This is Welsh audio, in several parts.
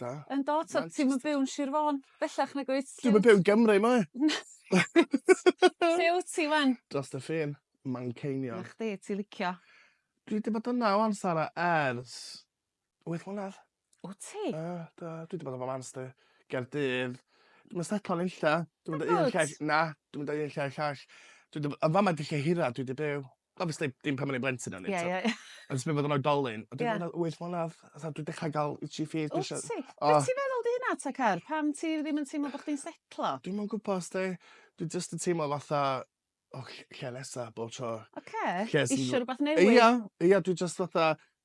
Da. Yndw t'od ti'm yn byw yn Sir Fôn bellach nag wyt? Dwi'm yn byw yn Gymru mae. Lle wt ti 'wan? Drost y ffin. Manceinion. 'Na chdi ti licio. Dwi 'di bod yna 'wan Sara ers wyth mlynadd. Wt ti? Yy do dwi 'di bod yn fy mams di. Gaerdydd. Dwi'm yn setlo nunlla. Dwi'm yn deu un lle na dwi'm yn deu un lle i'r llall. Dwi 'di b- yn fama 'di lle hira dwi 'di byw. Obviously dim pan o'n i'n blentyn o'n i... Ie ie ie. ...ond jys pryd odd o'n oedolyn. Ie. O'n i'n meddwl wyth mlynadd a tha dwi dechra ga'l itchy feet dwi isio... Wt ti? O. Be' ti'n meddwl 'di hynna ta Car? Pam ti ddim yn teimlo bo' chdi'n setlo? Dwi'm yn gwbo os 'di dwi jyst yn teimlo fatha o ll- lle nesa bob tro. Oce. Lle sy... Isio rwbath newydd. Ia ia dwi jyst fatha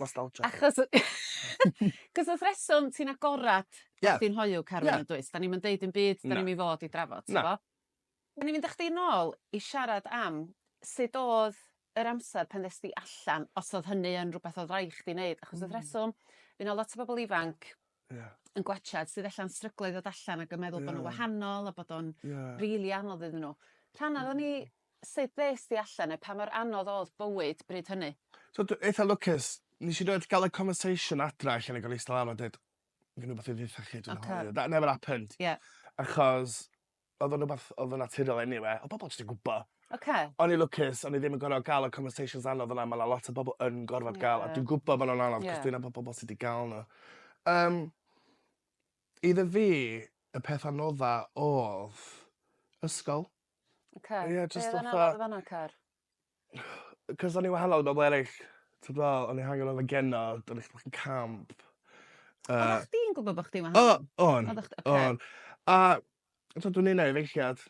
Nostalgia. Achos y- 'c'os wrth reswm ti'n agorad Ie. os ti'n hoyw Carwyn Ie. yndoes? 'Dan ni'm yn deud dim byd 'dan Na. ni'm i fod i drafod Na. t'bo? O'n i'n mynd â chdi nôl i siarad am sud o'dd yr amser pan ddes di allan os o'dd hynny yn rwbeth o'dd raid chdi neud achos wrth reswm by' 'na lot o bobol ifanc Ie. yn gwachad sydd ella'n stryglo i ddod allan ac yn meddwl bo' Ie. n'w wahanol a bod o'n Ie. rili anodd iddyn n'w. Rhan ohonon ni Sut ddes di allan a pa mor anodd oedd bywyd bryd hynny? So dw eitha lwcus. Nes i rioed ga'l y conversation adra lle o'n i'n gor'o' eista lawr a deud gen i wbath i ddeutha chi dwi'n hoyw. Ocê. That never happened. Ie. Achos odd o'n rwbath odd yn naturiol eniwe. Odd pobol jyst yn gwbo. Ocê. O'n i'n lwcus o'n i ddim yn gor'o' ga'l y conversations anodd fel 'a ma' 'na lot o bobol yn gorfod ga'l... Ie. ...a dwi'n gwbo ma' nw'n anodd... Ie. ...'c'os dwi'n nabod pobol sy 'di ga'l n'w. Yym. Iddo fi y peth anodda odd ysgol. Oce. Ie jyst fatha... Be' odd e'n anal yn fanna car? 'C'os o'n i wahanol i bobol eryll. T'od dwi me'wl o'n i hangen yfed genna a do'n i chydig bach yn camp yy... Oddach chdi'n gwbo bo' chdi'n wahanol? O! O'n. Oddach chdi oce. O'n. A t'od dwi'n un o efeilliad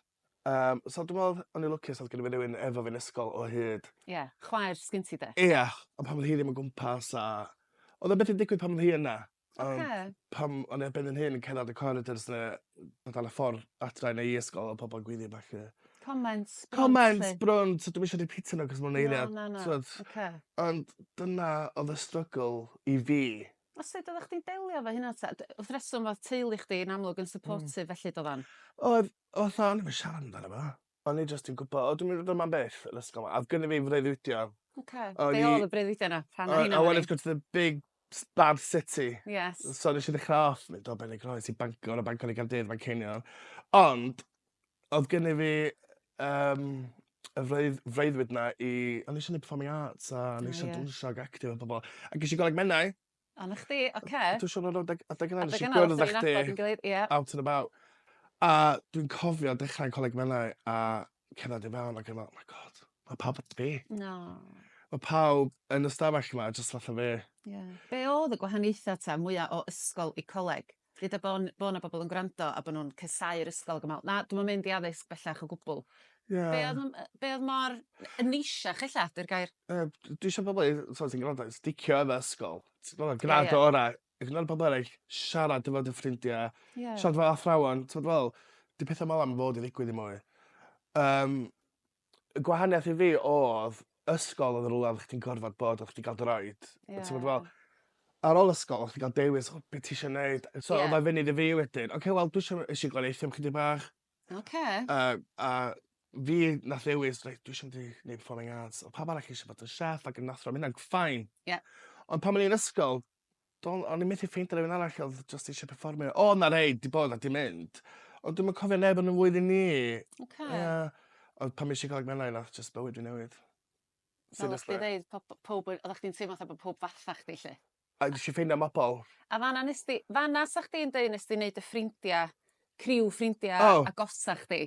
yym so dwi me'wl o'n i lwcus odd gynno fi rywun efo fi yn ysgol o hyd. Ie chwaer sgin ti 'de? Ia on' pan odd hi ddim o gwmpas a odd o byth yn digwydd pan odd hi yna. Yym. Oce. Pan o'n i ar ben 'yn hun yn cerddad y coridors 'na o dan y ffor adra neu i ysgol odd pobol yn gwylio a ballu. Comments browns 'lly? Comments browns so dwi'm isio rîpîtio n'w 'c'os ma' wnna eiliad... Na na na. ...t'mod? Oce. Ond dyna odd y strygl i fi. A sud oddach chdi'n delio efo hynna 'ta? D- wrth reswm o'dd teulu chdi yn amlwg yn supportive felly doddan? Oedd fatha o'n i'm yn siarad amdano fo. O'n i jyst yn gwbo o dwi myn' i fod yma am byth yr ysgol 'ma a odd gynno fi freuddwydio. Oce. O'n i... Be' odd y breuddwydio 'na? Rhan o hynna 'wan i. I wanted to go to the big s- bad city. Yes. So nesh i ddechra off mynd o Benygroes i Bangor o Bangor i Gaerdydd Manceinion ond odd gynno fi yym y freudd- freuddwyd 'na i o'n i isio neud performing arts a o'n i isio... O ie. ...dawnsio ag actio efo pobol. Ac esh i goleg Menai A 'na chdi, oce. Dwi siŵr o' 'na adeg adeg yna nesh i gwyrdd â chdi... Nabod 'yn gilydd ie. ...out and about a dwi'n cofio dechra'n Coleg Menai a cerddad i fewn ag yn me'wl my God ma' pawb at fi. Na. Ma' pawb yn y 'stafell 'ma jyst fatha fi. Ie. Be' odd y gwahaniaetha' 'ta mwya o ysgol i coleg? Gyda bo' n- bo' 'na bobl yn gwrando a bo' nhw'n casáu'r ysgol ag yn me'wl 'na dwi'm yn mynd i addysg bellach o gwbwl. Ie. Be' o'dd m- yy be' o'dd mor yy neisiach ella 'di'r gair. Yy d- dwi isio pobol i t'od sy'n grando i sticio efo ysgol. Ti gwbo grad ora'. Ac fel pobol eryll siarad efo dy ffrindie. Ie. Siarad efo athrawon t'od fel 'di petha fel 'a'm fod i ddigwydd dim mwy. Yym. y gwahaniath i fi odd ysgol odd yn rwla oddach chdi'n gorfod bod oddach chdi ga'l dy roid. Ie. A t'mod fel ar ôl ysgol oddach chdi ga'l dewis o be' t'isio neud a so... Ie. ...odd o funud i fi wedyn oce wel dwi isio es i gwaith Eithaf chydig bach. Oce. A a fi nath ddewis reit dwi isio mynd i neud performing arts. Odd pawb arall isio bod yn chef ac yn athro ma' ynna'n fine. Ie. Ond pan o'n i yn ysgol Don- o'n i methu ffeindio rywun arall odd jyst isie perfformio. O' 'na rhei 'di bod a 'di mynd ond dwi'm yn cofio neb yn 'yn mlwyddyn ni. Oce. Ia. Ond pan esh i Coleg Menai nath jyst bywyd fi newid. Fel oddach chdi ddeud po- po- powb we- oddach chdi'n teimlo fatha bo' powb fatha chdi 'lly. A nesh i ffeindio mobol. A fanna nest di... Fanna 'sach chdi'n deud nest di neud dy ffrindia, criw ffrindia... O! ...agosa chdi.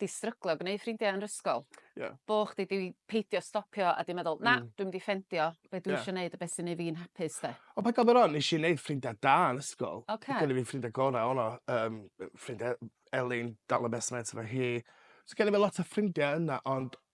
'di stryglo gneud ffrindiau yn 'r ysgol. Ie. Bo' chdi 'di peidio stopio a 'di meddwl na dwi mynd i ffendio be' dwi isio neud a beth sy neu' fi'n hapus 'de? O paid gofyn rŵan nesh i neud ffrindia da yn ysgol. Oce. Odd genno fi ffrindia gora o' 'na yym yy ffrindia Elin dal yn best mates efo hi. So genno fi lot o ffrindia yna ond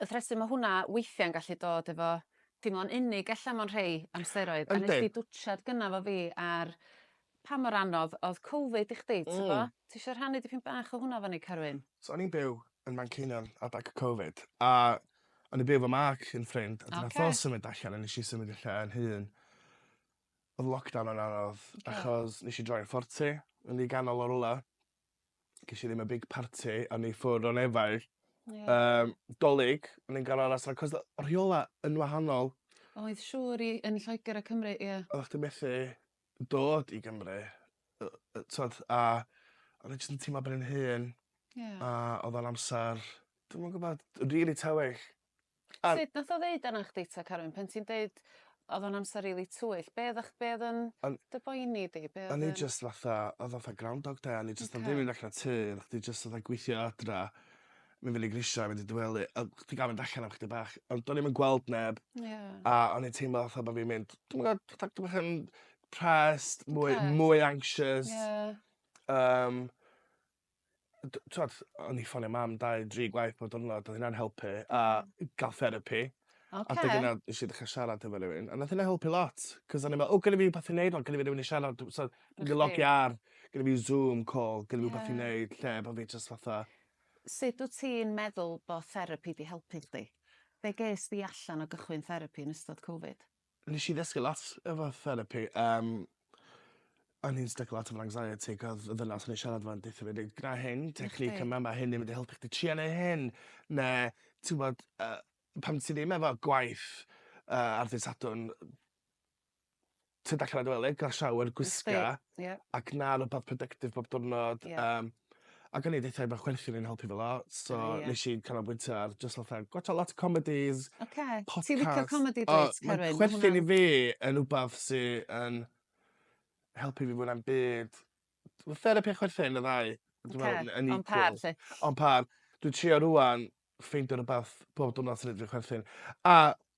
y thresu ma' hwnna weithia'n gallu dod efo teimlo'n unig ella mewn rhei amseroedd. Yndi. A nes di dwtsiad gynna efo fi ar pa mor anodd odd Covid i chdi t'bo? Mm. Ti isio rhannu dipyn bach o hwnna efo ni Carwyn? So o'n i'n byw yn Manceinion adag y Covid a o'n i'n byw efo Mark un ffrind a 'dyn nath o Oce. symud allan a nesh i symud i lle 'yn hun. Odd lockdown yn anodd achos nesh i droi'n forty yn rhy ganol o rwla. gesh i ddim y big party o'n i ffwr o nefaid. Ie. Yym 'Dolig o'n i'n ga'l aras 'na 'c'os o- o' rheola' yn wahanol. Oedd siŵr i yn Lloeger a Cymru ie. Oddach chdi methu dod i Gymru yy yy t'od a o'n i jyst yn teimlo ben 'yn hun. Ie. A odd o'n amsar dwi'm yn gwbod rili tywyll. A... Sut nath o ddeud arna chdi ta Carwyn pan ti'n deud odd o'n amser rili twyll be' oddach be' odd yn... O'n... ...dy boeni di be' odd yn... O'n i jyst fatha odd fatha groundhog day a o'n i jyst... Oce. ...yn dreifio mynd allan y tŷ a chdi jyst fatha gwithio adra myn fyny grisia mynd i dy wely a chdi ga'l mynd allan am chydig bach ond do'n i'm yn gweld neb. Ie. A o'n i'n teimlo fatha bo' fi'n mynd dwi'm yn gwod fatha dwi bach yn pressed mwy... Depressed. ...mwy anxious. Ie. Yym. yy d- t'wod o'n i ffonio mam dau dri gwaith pob diwrnod do'dd ynna'n helpu a ga'l therapi. Oce. A 'dyn yna nesh i ddechra siarad efo rywun a nath ynna helpu lot 'c'os o'n i me'wl o gynno fi wbath i neud 'wan gynno fi rywun i siarad dw- so dwi 'di logio ar gynno fi Zoom call gynno fi wbath i neud lle bo' fi jyst fatha Sut wt ti'n meddwl bo' therapi 'di helpu chdi? Be' ges di allan o gychwyn therapi yn ystod Cofid? Nesh i ddysgu lot efo therapi yym o'n i'n styc lot efo anxiety 'c'os y ddynas o'n i siarad 'fo'n deutho fi deu' gwna hyn technique yma ma' hyn yn mynd i helpu chdi tria neu' hyn ne' t'wbod yy pan ti ddim efo gwaith yy ar ddy' Sadwrn ti'n dechre dy wely ga'l shower gwisga... Gwisga ie. ...ac 'na rwbath productive bob diwrnod... Ie. ...yym Ac o'n i 'di ffein bo' chwerthin yn helpu fela so... O ie. ...nesh i canolbwyntio ar jyst fatha gwatsio lot o comedis... Oce. ...podcasts. Ti'n licio comedi dwyt Carwyn? Ma' hwnna'n... O ma' chwerthin i fi yn wbath sy yn helpu fi fwyna'm byd. Ma' therapi a chwerthin y ddau dwi me'wl... Oce. ...yn yn equal. On par 'lly? On par. Dwi trio rŵan ffeindio rwbath pob dwrnod chwerthin. A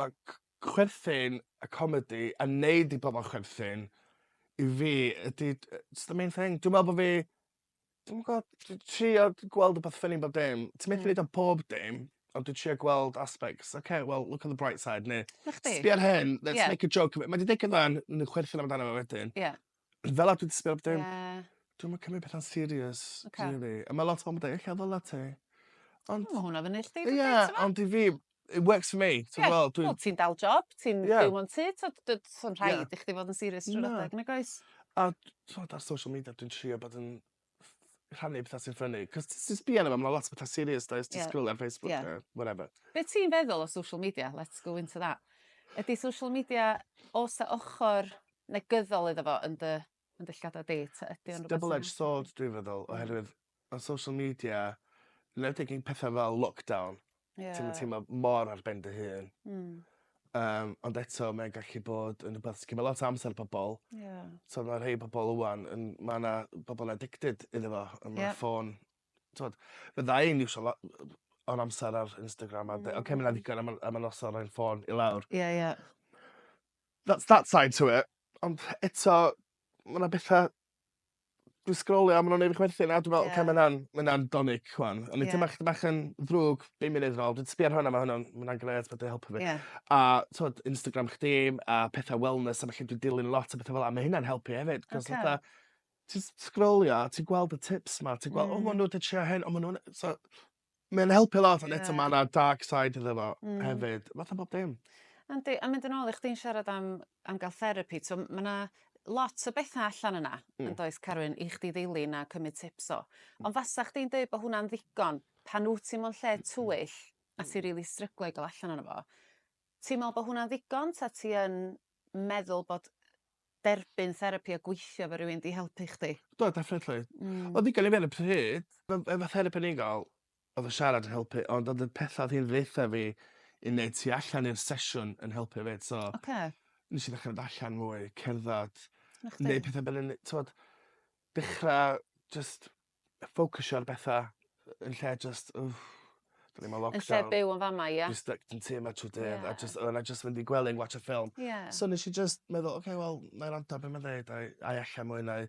Mae chwerthin a comedi a neud i pobol chwerthin i fi ydi yy jyst y main thing. Dwi me'wl bo' fi dwi'm yn gw'o' dwi trio gweld rwbeth ffyni yn bob dim. Ti methu neud o yn pob dim ond dwi trio gweld aspects ok well look on the bright side ne'... 'Na chdi. ...sbia ar hyn let's make a joke of it. Mae 'di digwydd 'wan ma' n'w chwerthin amdano fo wedyn. Ie. Fel arall dwi jys fel dim... Ie. ...dwi'm yn cymryd petha'n serious... Oce. ...ti'n gwel' fi? A ma' lot o bobol yn deu ella ddyla ti. Ond... O ma' hwnna fyny i chdi rili t'mo'? Ie ond i fi it works for me ti'n gwel' dwi... Ie wel ti'n dal job ti'n... Ie. ...byw mewn tŷ t'od dy- s'a'm rhaid... Ie. ...i chdi fod yn serious trw'r adag... Na. ...nagoes? A d- t'mod ar social media dwi'n trio bod yn ff- rhannu petha sy'n ffyni 'c'os t- ti'n sbio arno fo ma' 'na lot o petha serious does ti... Ie. ...sgrolio ar Facebook Ie. a whatever. Be' ti'n feddwl o social media let's go into that. Ydi social media o's 'a ochor negyddol iddo fo yn dy yn dy llygada di ta ydi o'n rwbeth sy'n... Double edged sword dwi'n feddwl oherwydd ma' social media 'nwedig yn petha fel lockdown Ie. Ti'm yn teimlo mor ar ben dy hun. Hmm. Yym ond eto mae'n gallu bod yn rwbath sy cymyd lot o amser pobol. Ie. So ma' rhei pobol ŵan yn ma' 'na bobol addicted iddo fo a ma'... Ie. ...ffôn t'wod fydda i'n iwsio lo- yy yy o'r amser ar Instagram a de- oce ma' 'na ddigon a ma' a ma' noson o ran ffôn i lawr. Ie ie. That's that side to it. Ond eto ma' 'na betha Dwi sgrolio a ma' nw'n neud fi chwerthin a dwi fel... Ie. ...oce ma' wnna'n ma' wnna'n 'dolig rhŵan. O'n i... Ie. ...tym' bach tym' bach yn ddrwg bum munud yn ôl dwi 'di sbio ar hwn a ma' hwn yn ma' wnna'n grêt ma' 'di helpu fi. Ie. A t'wod Instagram chdi a petha wellness a felly dwi dilyn lot o betha fel 'a ma' hynna'n helpu efyd 'c'os fatha... Oce. ...ti js sgrolio a ti gweld y tips 'ma ti gwel... Hmm. ...o ma' n'w 'di trio hyn o ma' n'w yn yy so Mae'n helpu lot ond eto mae yna dark side iddo fo mm. hefyd. Fatha bob dim. Yndi, a mynd yn ôl i chdi'n siarad am, am gael therapi, so mae yna lot o bethau allan yna, mm. yn does Carwyn, i chdi ddilyn a cymryd tips o. Mm. Ond fasa chdi'n dweud bod hwnna'n ddigon pan wyt ti mewn lle twyll a mm. ti'n rili really stryglo i gael allan yna fo. Ti'n meddwl bod hwnna'n ddigon ta ti yn meddwl bod derbyn therapi a gweithio efo rywun 'di helpu chdi? Do definitely. Hmm. Odd digon i fi ar y pryd. Fel fel ma' therapi o'n i'n ga'l odd y siarad yn helpu ond odd y petha odd hi'n ddeutha fi i neud tu allan i'r sesiwn yn helpu 'fyd so... Oce. ...nesh i ddechra mynd allan mwy cerddad. 'Na chdi. Neud petha fel 'yn ne- t'mod dechra jyst ffocysio ar betha yy yn lle jyst wff 'dan ni mewn lockdown. Yn lle byw yn fama ia? Fi styc yn tŷ 'ma trw dydd... Ie. ...a jyst o' wnna jyst mynd i gwely yn gwatsio ffilm. Ie. So nesh i jyst meddwl oce wel 'nai wrando ar be' ma'n ddeud a i a i ella mwy na i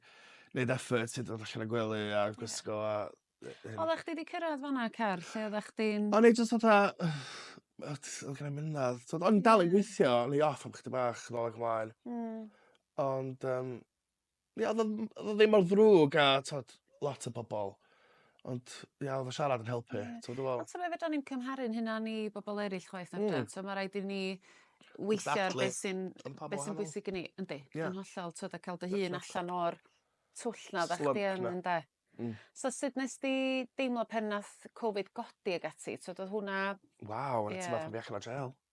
neud effort i dod allan o gwely a gwisgo a yy yym... Odda chdi 'di cyrradd fan 'na Car lle odda chdi'n... O'n i jyst fatha o t- odd genai mynadd t'od o'n i'n dal i gwithio o'n i off am chydig bach nôl ag ymlaen. Hmm. Ond yym Ie odd o ddi- odd o ddim mor ddrwg a t'od lot o bobol ond ia odd y siarad yn helpu. Ie. T'mo' dwi me'wl... Ond t'mo' fedran ni'm cymharu'n hunan i bobol eryll chwaith na fedran? Hmm. T'mo' ma' raid i ni weithio ar beth sy'n... Exactly. Yn pa mor wahanol. ...beth sy'n bwysig i ni. Yndi. Ie. Yn hollol t'od a ca'l dy hun allan o'r twll 'na oddach chdi yn... Slump 'na. ...ynde? Hmm. So sud nest di deimlo pan nath Covid godi ag ati t'od odd hwnna... Waw. Ie. ...o' 'na teimlad pan fi allan o jêl.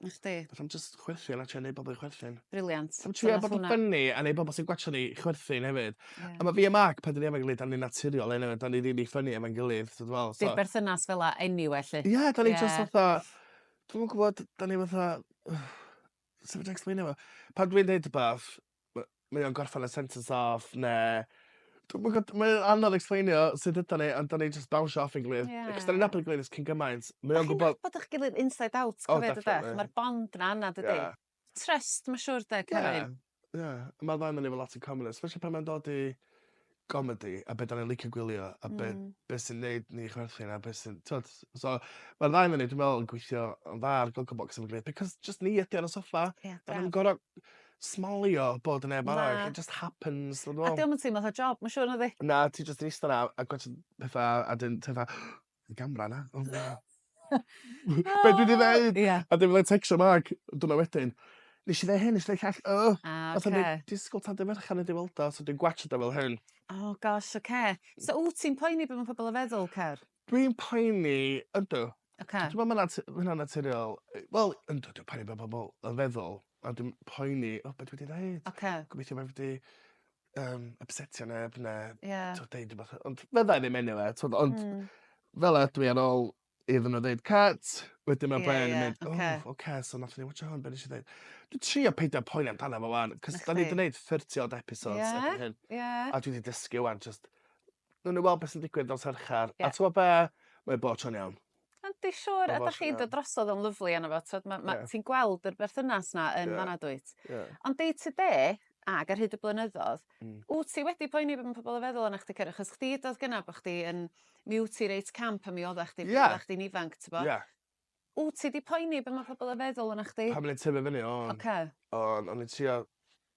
Na chdi. Fedrai 'im jyst chwerthin a trio neu bobol i chwerthin. Brilliant. Sa'm trio bod yn ffyni a neu' bobol sy'n gwatsio ni chwerthin hefyd. Ie. A ma' fi a Mark pan 'dan ni efo'n gilydd 'dan ni'n naturiol eniwe 'dan ni rili ffyni efo'n gilydd so dwi me'wl so... Bydd berthynas fel 'a eniwe 'lly. Ie 'dan ni jyst fatha dwi'm yn gwbod 'dan ni fatha sut fedrai ecspleino fo? Pan dwi'n deud rwbath ma' mae o'n gorffen y sentence off ne' dwi'm yn gw'od mae o anodd ecsplanio sut ydan ni ond 'dan ni jyst bownsio off ein gilydd. Ie. Achos 'dan ni'n nabod 'i gilydd ers cyn gymaint mae o'n gwbod... A chi'n nabod 'ych gilydd inside out cofio dyde? O definately. Ma'r bond 'na yna dydi? Ie. Trust ma' siŵr 'de Caroline? Ie ie. Ma' ddau onyn ni efo lot in common especially pan mae'n dod i gomedi a be' 'dan ni licio gwylio a be'... Hmm. ...be' sy'n neud ni chwerthin a be' sy'n t'od s- so ma'r ddau onyn ni dwi me'wl yn gweithio yn dda ar Gogglebox am y gre- because jyst ni ydi o ar y soffa. Ie braf. 'Dan ni'm gor'o' smalio bod yn neb arall. Na. It just happens A 'di o'm yn teimlo fatha job ma' siŵr nadi? Na ti jyst yn ista 'na a gwatsiad petha a 'dyn ti fatha Y gamra 'na. O na. Be' dwi 'di ddeud? Ia. A 'dyn fyddai'n tecsio Mark diwrnod wedyn. Nesh i ddeu hyn nesh i ddeu llall. O! A oce. Fatha ni disgwl tan dy Ferchar i di weld o so dwi'n gwatsiad o fel hyn. O gosh oce. So wt ti'n poeni be' ma' pobol yn feddwl Cer? Dwi'n poeni ydw. Oce. T'mo' ma' 'na t- ma' hynna'n naturiol. Yy wel yndw dwi poeni be' ma' pobol yn feddwl a dwi'n poeni o be' dwi 'di ddeud. Oce. Gobeithio bo' fi 'di yym ypsetio neb ne'... Ie. ...t'o' deud rwbath yy ond fyddai ddim eniwe t'od ond... Hmm. ...fel 'a dwi ar ôl iddyn n'w ddeud cut wedyn ma'... Ie ie. ...bren yn mynd... Oce. ...o oce so nathon ni watsio hwn be' nesh i ddeud? Dwi trio peidio poeni amdano fo 'wan 'c'os 'dan ni 'di neud thirty odd episodes... Ie. ...erbyn hyn. Ie. A dwi 'di dysgu 'wan jyst newn ni weld be' sy'n digwydd nos Fercher. Ie. A t'mo' be' mae o bob tro'n iawn. Yndi siŵr a dach chi'n dod drosodd o'n lyfli yno fo t'od ma' ma' ti'n gweld yr berthynas 'na yn fanna dwyt? Ie. Ond day to day ag ar hyd y blynyddodd... Hmm. ...wt ti wedi poeni be' ma' pobol yn feddwl ona chdi cer- achos chdi do'dd gynna bo' chdi yn mi wt ti reit camp a mi odda chdi... Ie. ...odda chdi'n ifanc t'bo'? Ie. Wt ti 'di poeni be' ma' pobol yn feddwl ona chdi? Pan o'n i'n tyfu fyny o'n. Oce. O'n o'n i'n trio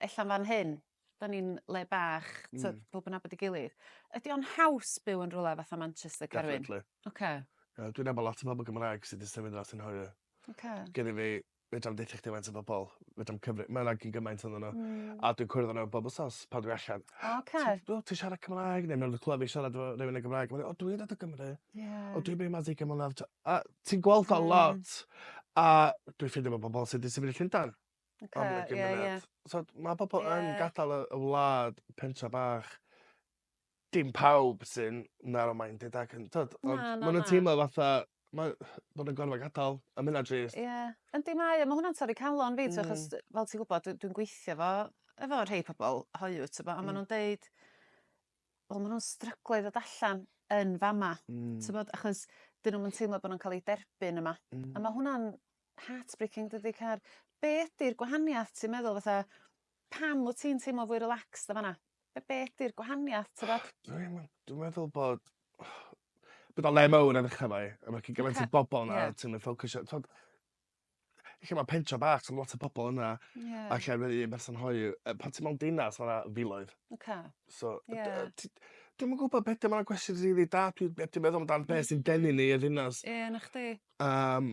ella'n fan hyn 'dan ni'n le bach t'od... Hmm. ...powb yn nabod 'i gilydd. Ydi o'n haws byw yn rwla fatha Manchester Carwyn? Definitely. Oce. Yy dwi'n nabo lot o bobol Gymraeg sy 'di symud mas yn hoyw. Oce. Gynno fi fedra i'm deutho chdi faint o bobol fedra i'm cyfri- ma' 'na gyn gymaint onno n'w. Hmm. A dwi'n cwrdd â n'w bob wsos pan dwi allan. O oce. Ti o ti siarad Cymraeg ne' ma' nw'n clywed fi siarad efo rywun yn Gymraeg ma' n'w o dwi dod o Gymru. Ie. O dwi byw 'ma ers ugain mlynadd t'o' a ti'n gweld o lot. Hmm. A dwi ffindio ma' pobol sy 'di symud i Llundan. Oce ie ie. Am y gymuned. T'od ma' pobol... Ie. ...yn gadal y y wlad pentra bach. Dim pawb sy'n narrow minded ac yn t'od... Na na na. ...ond ma' nw'n teimlo fatha ma' ma' nw'n gorfo gadal a ma' ynna drist. Ie yndi mae o ma' hwnna'n torri calon fi... Hmm. ...t'wo' 'chos fel ti gwbod dwi dwi'n gweithio efo efo rhei pobol hoyw t'bo'... Hmm. ...a ma' nw'n deud wel ma' nw'n stryglo i ddod allan yn fama. Hmm. T'mod achos 'dyn nw'm yn teimlo bo' nw'n ca'l 'u derbyn yma. Hmm. A ma' hwnna'n heartbreaking dydi car? Be' ydi'r gwahaniath ti'n meddwl fatha pam wt ti'n teimlo fwy relaxed yn fan 'na? Be' be' ydi'r gwahaniath t'mod? Dwi'm yn dwi meddwl bod bod o le mowr yn ucha 'na i a ma' cyn gymaint o bobol 'na ti'm yn ffocysio t'od lle ma' pentra bach sa'm lot o pobol yna. Ie. A lle ma' un person hoyw yy pan ti mewn dinas ma' 'na filoedd. Oce. So... Ie. ...dy- yy ti dwi'm yn gwbo be' 'di o ma' 'na gwestiwn rili da dwi yy dwi meddwl amdan be' sy'n denu ni y ddinas. Ie 'na chdi. Yym.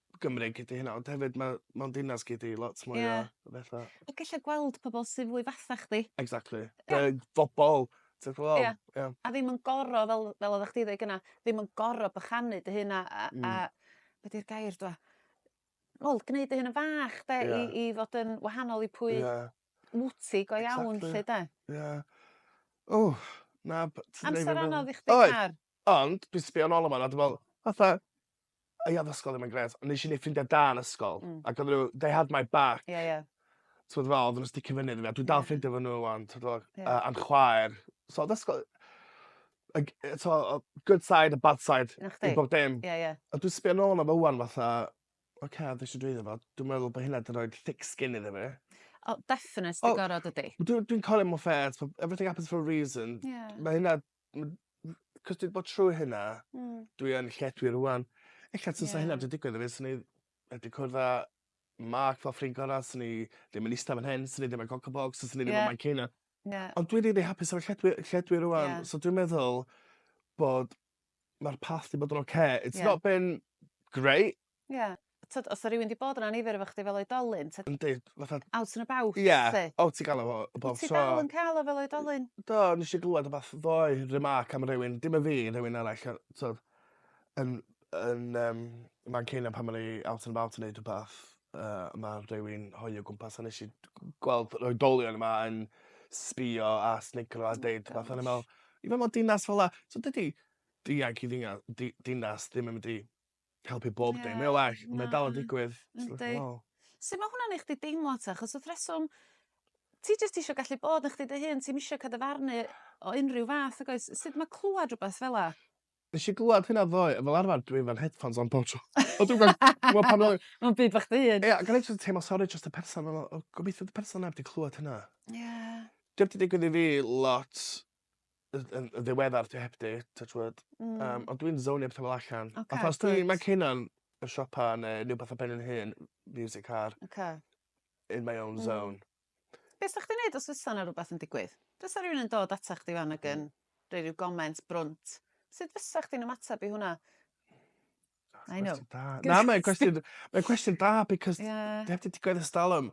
Gymreig ydi hynna ond hefyd ma' mewn dinas gei di lot mwy o... Ie. ...o betha. Ac ella gweld pobol sy fwy fatha chdi. Exactly. Ie. Yy bobol t'od fel... Ia. ...ia. A ddim yn goro fel fel oddach chdi ddeu gynna ddim yn goro bychanu dy hun a a a... Hmm. ...be' 'di'r gair dwa? Wel gneud dy hun yn fach 'de... Ia. ...i i fod yn wahanol i pwy... Ia. ...wt ti go iawn 'lly 'de? Exactly. Ia. O na b- t- neud fi meddwl... Amser anodd i chdi Car? Oedd. Ond dwi sbio nôl ar 'wan a dwi me'wl fatha I ath ysgol ddim yn grêt ond nesh i neud ffrindia da yn ysgol. Hmm. Ac odden n'w they had my back. Ie ie. T'mod fel odden n'w sticio fynny 'da fi a dwi dal ffrindia efo n'w ŵan t'od fel... Ie. ...yy a'n chwaer. So odd ysgol y g- yy t'mo' o- good side a bad side... 'Na chdi. ...i bob dim. Ie ie. A dwi sbio nôl arno fo ŵan fatha oce odd isio dweud efo dwi meddwl bo' hynna 'di roid thick skin iddo fi. O definate 'di gorod dydi? Dwi dwi'n colio mewn ffair t'mo' everything happens for a reason. Ie. Ma' hynna Ond m- 'c'os dwi 'di bod trwy hynna... Hmm. ...dwi yn lle dwi rŵan. Ella tasa... Ie. ...hynna 'di digwydd i fi swn i wedi cwrdd â Mark fel ffrind gora' swn i ddim yn ista fan hyn swn i ddim yn Gogglebox swn i ddim... Ie. ...yn Manceinion. Ie. Ond dwi rili hapus efo lle dwi lle dwi rŵan. Ie. So dwi'n meddwl bod ma'r path 'di bod yn oce... Ie. ...it's not been grate Ie. T'od os 'a rywun 'di bod yn annifyr efo chdi fel oedolyn t'od... Yndi fatha... Out and about 'lly. Ie o ti ga'l o fel y bob tro. Wyt ti dal yn ca'l o fel oedolyn? Do nesh i glŵad wbath ddoe remark am rywun dim y fi rhywun arall yy t'od yn yn yym Manceinion pan o'n i out and about yn neud rwbath yy ma' rhywun hoyw o gwmpas a nesh i d- g- gweld yr oedolion yma yn sbïo a snigrlo a deud petha o'n i me'wl even mewn dinas fel 'a so dydi dianc i ddinia- di- dinas ddim yn mynd i helpu bob dim. Ie. Mae o well on' mae dal yn digwydd. Yndi. Sut ma' hwnna'n neu' chdi deimlo 'ta achos wrth reswm ti jyst isio gallu bod yn chdi dy hun ti'm isio ca'l dy farnu o unryw fath nag oes? Sud ma' clŵad rwbeth fel 'a? Nesh i glŵad hynna ddoe a fel arfar dwi efo'r headphones on pob tro. Ond dwi'm gwael t'mo' pan oe-... Ma'n byd bach dy hun. Ie ac o'n i jys yn teimlo sori drost y person fel o o gobeithio 'di person 'na 'eb 'di clŵad hynna. Ie. 'Di o'm 'di digwydd i fi lot yn yn yn ddiweddar dwi heb 'di t'o' t'wod... Hmm. ...yym ond dwi'n zownio petha fel allan. Oce good. Fatha os dwi ma' Cynan y siopa ne' ryw petha ben 'yn hun miwsic ar. Oce. In my own zone. Hmm. Be' sa chdi'n neud os fysa 'na rwbath yn digwydd? Fysa rywun yn dod atach chdi ŵan ag yn roi ryw goment brwnt sud fysa chdi'n ymatab i hwnna? I know. Cwestiwn da. Na mae'n cwestiwn mae'n cwestiwn da because... Ie. ...dwi 'eb 'di digwydd e's dalwm.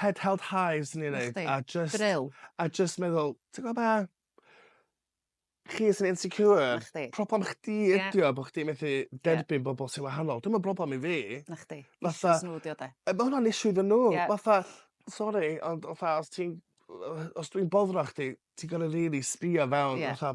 head held high fyswn i'n ddeud. 'Na chdi. A jyst... Brill. ...a jyst meddwl ti gwbo be'? Chi sy'n insecure. 'Na chdi. Problem chdi ydi o... Ie. ...bo' chdi methu derbyn... Ie. ...bobol sy wahanol dim yn broblem i fi. 'Na chdi. Fatha... Issues n'w 'di o 'de? Yy ma' wnna'n issue iddyn n'w. Ie. Fatha sori ond fatha os ti'n yy os dwi'n boddran chdi ti gor'o' rili sbïo fewn... Ie. ...fatha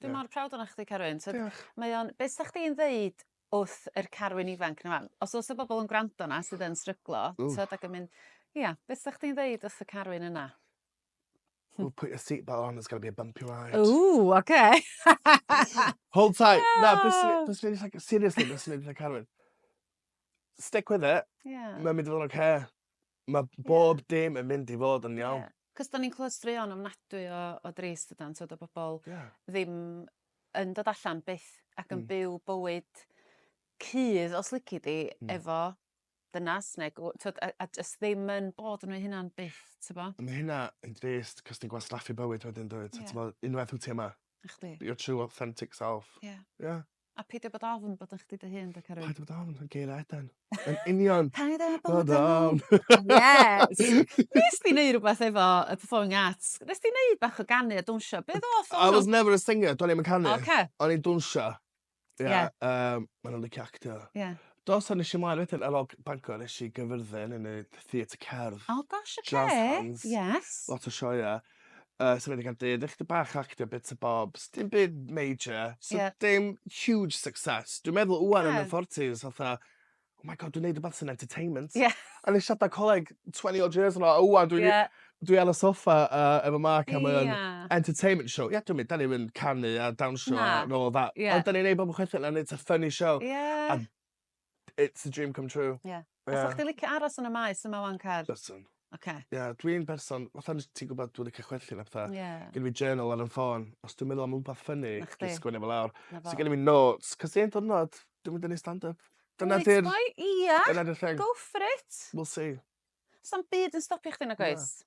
Dwi mor proud o'na chdi Carwyn t'od... Diolch. ...mae o'n be' sa chdi'n ddeud wrth yr Carwyn ifanc 'na 'wan? Os o's 'na bobol yn gwrando 'na sydd yn stryglo... Ww. ...t'od ac yn myn' ia be' sa chdi'n ddeud wrth y Carwyn yna? Ww put your seat belt on there's gonna be a bumpy ride. Ww oce. Hold tight. Na byswn i byswn i jys like seriously byswn i jys like Carwyn stick with it. Ie. Mae'n mynd i fod yn oce. Mae bob yeah. dim yn mynd i fod yn iawn. Yeah. Cos da ni'n clywed straeon ofnadwy o, o drist ydan, twyd o bobl yeah. ddim yn dod allan byth ac yn mm. byw bywyd cudd os lici di mm. efo dynas neu twyd, a, a jyst ddim yn bod nhw'n hynna'n byth, ti'n bo? Mae hynna yn drist cos ti'n gwastraffu bywyd wedyn dweud, yeah. ti'n bo, unwaith wyt ti yma. Chdi. Your true authentic self. Yeah. Yeah. A peidio bod ofn bod yn chdi dy hun, da Carwyn. Paid bod ofn, yn geir Eden. Yn union. Paid â bod ofn. Yes! Nes di neud rhywbeth efo y Performing Arts? Nes di neud bach o ganu a dwnsio? Be ddoth o'n... I was never a singer, do'n i'm yn canu. Oce. O'n i'n dwnsio. Ie. Yeah. Um, Mae'n o'n licio actio. Ie. Yeah. Dos o'n eisiau mlaen wedyn ar ôl Bangor, eisiau gyfyrddin yn y theatr cerdd. Oh gosh, oce. Okay. Jazz hands. Yes. Lot o sioia. Yy so wedi cael dyd ychydig bach o actio bits a bobs. Dim byd major. So... Ie. ...dim huge success. Dwi'n meddwl ŵan yn fy forties fatha oh my God dwi'n neud rwbath sy'n entertainment. Ie. O'n i siarad â coleg twenty odd years yn ôl a ŵan dwi'n... Ie. ...dwi ar y soffa yy efo Mark a mae o'n... Ie. ...entertainment show. Ie dwi'n mynd 'dan ni'm yn canu a dawnsio... Na. ...a nôl a... Ie. ...ond 'dan ni'n neud bob chwech a neud 'tha funny show. Ie. A it's a dream come true. Ie. Fysach chdi licio aros yn y maes yma 'wan Car? Byswn. Oce. Ie dwi'n berson fatha nes ti gwbod dwi licio chwerthin a petha. Ie. Gen fi journal ar 'yn ffôn os dwi'n meddwl am wbath ffyni... 'Na chdi. ...dwi'n sgwennu fo lawr. 'Na fo. So genno fi notes 'c'os un diwrnod dwi mynd i neu' stand up. Dyna 'di'r... Reit boi ia. Dyna 'di'r thing. Go for it. We'll see. Sa'm byd yn stopio chdi nag oes? Na.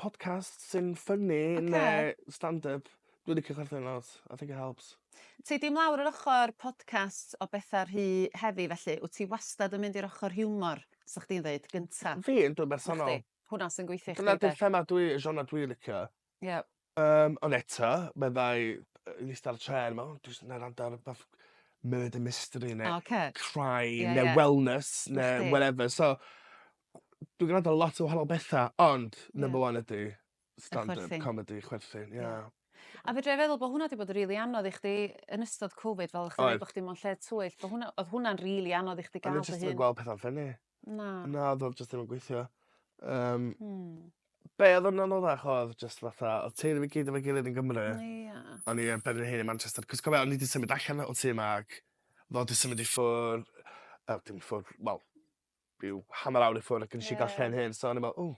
Podcast sy'n ffyni neu stand-up. Dwi licio chwerthin lot. I think it helps. Ti 'di mlawr yr ochor podcast o betha rhy heavy felly, wt ti wastad yn mynd i'r ochor hiwmor, 'sach chdi'n ddeud, gynta? Fi yndw yn bersonol. Nacdi? Hwnna sy'n gweithio i chdi 'de? Dyna 'di thema dwi genre dwi licio. Ie. Yym ond eto meddai yy yn ista ar y trên me'wl o dwi jys 'na wrando ar rwbath murder mystery ne'... Oce. ...crime... Ie ie. ...ne' wellness ne'... 'Na chdi. ...whatever so dwi grando ar lot o wahanol betha ond... Ie. ...number one ydi stand up... Y chwerthin. ...comedy chwerthin ie. Ie. A fedrai feddwl bo' hwnna 'di bod yn rili anodd i chdi yn ystod Covid fel o' chdi... Oedd. ...ddeud bo' chdi mewn lle twyll bo' hwnna odd hwnna'n rili anodd i chdi ga'l dy hun... O'n i jyst yn gwel petha'n ffyni. Na. Na odd o jyst ddim yn gweithio. Yym. Hmm. Be' odd yn anoddach odd jyst fatha odd teulu fi gyd efo'i gilydd yn Gymru. O ia. A o'n i yn benderfynu hen i Manchester 'c'os cofia o'n i 'di symud allan o tŷ 'ma ac fo 'di symud i ffwr' yy dim i ffwr' wel ryw hanner awr i ffwr' ac yn ishal ca'l lle 'yn hun so o'n i me'wl o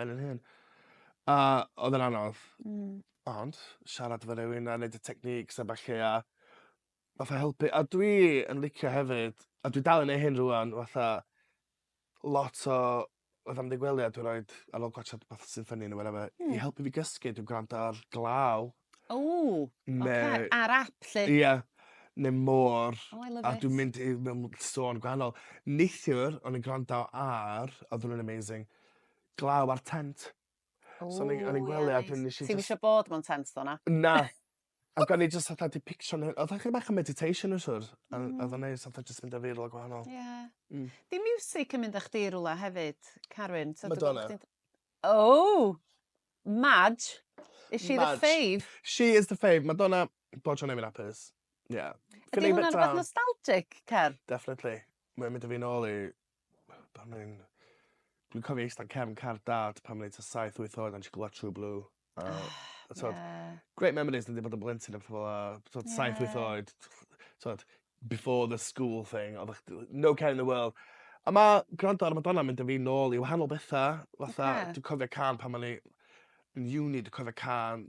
ben 'yn hun. A odd e'n anodd. Hmm. Ond siarad efo rywun a neud y techniques a ballu a fatha helpu a dwi yn licio hefyd a dwi dal yn neu' hyn rŵan fatha lot o fatha mynd i gwely a dwi roid ar ôl gwatsiad rwbath sy ffyni ne' whatever... Hmm. ...i helpu fi gysgu dwi gwrando ar glaw. O! Ne'... Oce ar ap 'lly? Ia ne' môr. O I love it. A dwi'n mynd i mewn m- sôn gwahanol. Neithiwr o'n i'n gwrando ar odd wnna'n amazing glaw ar Tent. O ie neis. So o'n i o'n i'n gwely a dwi'n nesh i jyst... Ti'm isio bod mewn Tent tho na? Na. Ac o'n i jyst fatha 'di pictio n'w odd o chydig bach o meditation o siwr a o- odd o'n neis fatha jyst mynd â fi i rwla gwahanol. Ie. Hmm. 'Di miwsic yn mynd â chdi i rwla hefyd Carwyn? T'od dwi'n gwbo bo' chdi'n... Madonna. Ow! Madge. Is she the fave? Madge. She is the fave. Madonna bob tro neu' fi'n apus. Ie. Ydi hwnna'n rwbath nostalgic Car? Definitely. Mae o mynd â fi nôl i Pan o'n i'n... Dwi'n cofio ista'n cefn car dad pan o'n i t'a saith wyth oed a nesh i glwad True Blue a... O ie. ...t'od great memories dwi 'di bod yn blentyn a petha fel 'a t'od... Ie. ...saith wyth oed t'od before the school thing odda chdi li- no care in the world. A ma' grando ar y Madonna mynd â fi nôl i wahanol betha fatha... Oce. ...dwi cofio cân pan o'n i yn uni dwi cofio cân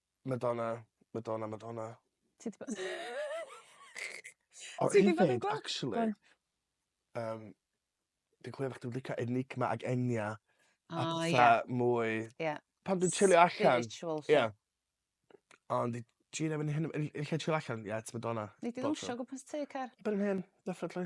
Madonna Madonna Madonna. Ti 'di bod... O un peth actually... Go on. ...yym fi'n clywed bo' chdi'n lico Enigma ag Enya... O ie. ...a petha mwy... Ie. ...pan dwi'n chilio allan... Spiritual 'lly. Ie. Ond i Gina fyn hyn yn yn lle chillo allan ie it's Madonna. Nei di ddawnsio o gwmpas tŷ Car? Erbyn hyn definitely.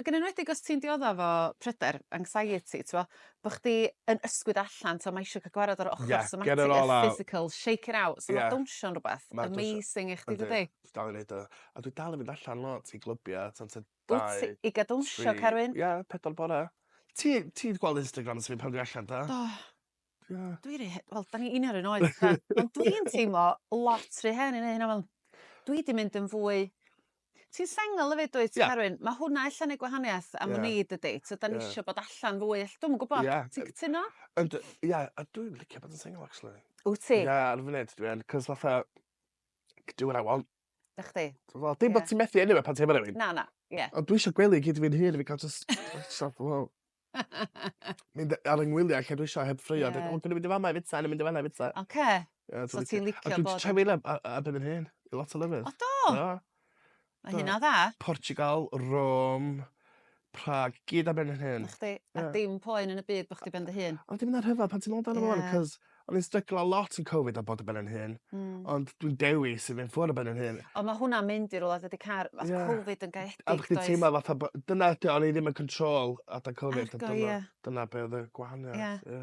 Ac yn enwedig os ti'n diodda efo pryder, anxiety, t'mo', bo' chdi yn ysgwyd allan, t'mo' ma' isio ca'l gwared â'r ochor... Ie, get it all out. ...somatic a'r physical, shake it out. Ie. So ma' dawnsio'n rwbeth... Ma'n dawnsio. ...amazing i chdi dydi? Yndi. Dwi dal i neud o. A dwi dal yn mynd allan lot i glybia t'od tua dau... Wyt ti i ga'l dawnsio Carwyn? ...tri. Ie, pedwar bore. Ti ti 'di gweld Instagram fi pan dwi allan do? Do. Ia. Dwi ry he- wel 'dan ni union 'r un oed so... ...ond dwi'n teimlo lot ry hen i neu' hynna mewn dwi 'di mynd yn fwy ti'n sengl efyd dwyt... Ia. ...Carwyn? Ma' hwnna ella neu' gwahaniaeth am wn i dydi? Ia. T'od 'dan ni isio bod allan fwy ell- dw'm yn gwbo. Ia. Ti'n cytuno? Ond yy ia a dwi'n licio bod yn sengl actually. Wt ti? Ia ar y funud dwi yn 'c'os fatha c- do what I want. Da chdi. Wel dim bod ti'n methu enw fe pan ti'n efo rhywun. Na, na, ie. Ond dwi eisiau gwely i gyd fi'n hun fi cael just... Stop, wow. Mynd ar yng ngwyliau lle dwi eisiau heb ffrio. Ie. Ond dwi'n mynd i fama i fita, yn mynd i fana i fita. Oce. Ie, So ti'n licio bod... A dwi'n trefnu le a, a byd yn hyn. I lot o lefydd. O do? Do. Mae hynna dda. Portugal, Rome, Prag gyd ar ben fy hun. 'Na chdi. A dim poen yn y byd bo' chdi ben dy hun. Ond dim 'na rhyfel pan ti'n me'wl amdano fo ŵan 'c'os o'n i'n stryglo a lot yn Covid a bod ar ben yn hun. Hmm. Ond dwi'n dewis i fyn' ffwr' ar ben yn hun. Ond ma' hwnna'n mynd i rwla dydi car- ma' Covid yn gaeedig does? A bo' chdi teimlo fatha bo'... Dyna ydi o o'n i ddim yn control adag Covid. Argo ie. Dyna be' odd y gwahaniath. Ie. Ie.